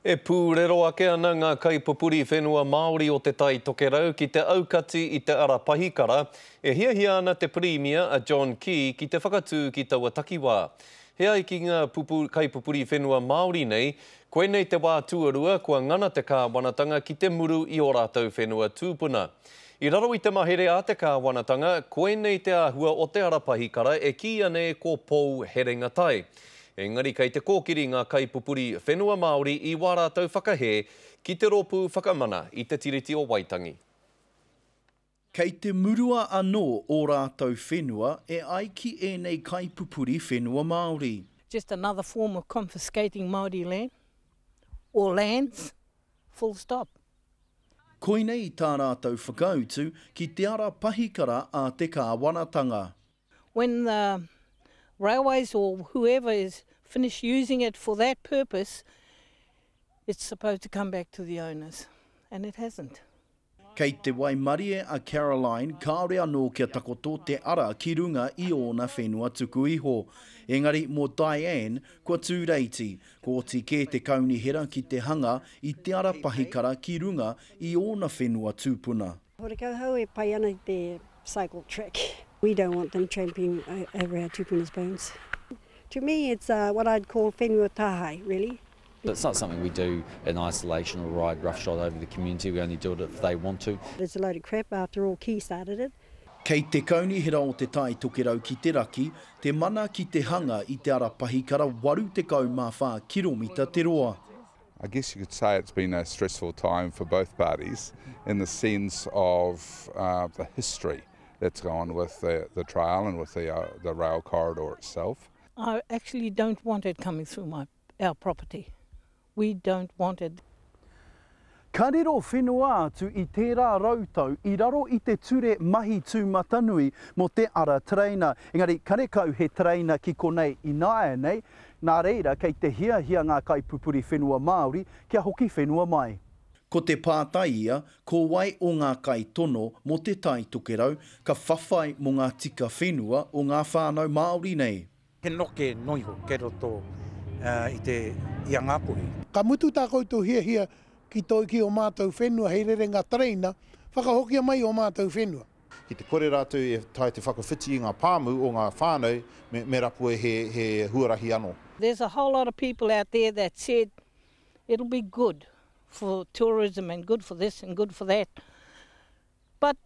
E pūrero ake ana ngā kaipupuri whenua Māori o Te Tai Tokerau ki te aukati i te ara pahikara, e hiahia ana te Pirimia a John Key ki te whakatū ki taua takiwā. He ai ki ngā kaipupuri whenua Māori nei, koinei te wā tuarua kua ngana te kāwanatanga ki te muru i ō rātou whenua tūpuna. I raro i te mahere a te kāwanatanga, koinei te āhua o te ara pahikara e kīia nei ko Pou Herenga Tai. Engari kei te kōkiri ngā kaipupuri whenua Māori i wā rātou whakahē ki te Rōpū Whakamana i te Tiriti o Waitangi. Kei te murua anō ō rātou whenua e ai ki ēnei kaipupuri whenua Māori. Just another form of confiscating Māori land, or lands, full stop. Koinei tā rātou whakautu ki te ara pahikara a te kāwanatanga. When the railways or whoever is finish using it for that purpose, it's supposed to come back to the owners. And it hasn't. Kei te waimarie a Caroline kāore anō kia takoto te ara ki runga i ōna whenua tuku iho. Engari mō Diane, kua tū reiti, kua oti kē te kaunihera ki te hanga i te ara pahikara ki runga i ōna whenua tūpuna. Horekau hau e pai ana i te cycle track. We don't want them tramping over our tupuna's bones. To me it's uh, what I'd call whenua tāhae, really. It's not something we do in isolation or ride roughshod over the community, we only do it if they want to. It's a load of crap, after all Key started it. Kei te kaunihera o Te Tai Tokerau ki te raki, te mana ki te hanga i te ara pahikara 84 kiromita te roa. I guess you could say it's been a stressful time for both parties in the sense of uh, the history that's gone with the, the trail and with the, uh, the rail corridor itself. I actually don't want it coming through my, our property. We don't want it. Ka riro whenua atu i tērā rautau i raro i te ture mahi tūmatanui mō te ara tereina. Engari, karekau he tereina ki konei ināianei, Nā reira, kei te hiahia ngā kaipupuri whenua Māori kia hoki whenua mai. Ko te pātai ia, ko wai o ngā kaitono mō Te Tai Tokerau ka whawhai mō ngā tika whenua o ngā whānau Māori nei? He noke noa iho kei roto i te i a Ngāpuhi. Ka mutu tā koutou hiahia ki toi ki ō mātou whenua hei rerenga tereina, whakahokia mai ō mātou whenua. Ki te kore rātou e tae te whakawhiti i ngā pāmu o ngā whānau me, me rapua he, he huarahi anō. There's a whole lot of people out there that said it'll be good for tourism and good for this and good for that but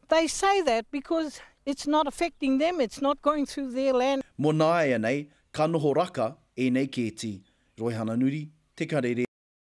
they say that because it's not affecting them, it's not going through their land. Mo nāianei, ka noho raka ēnei kēti, Roihana Nuri, Te Karere.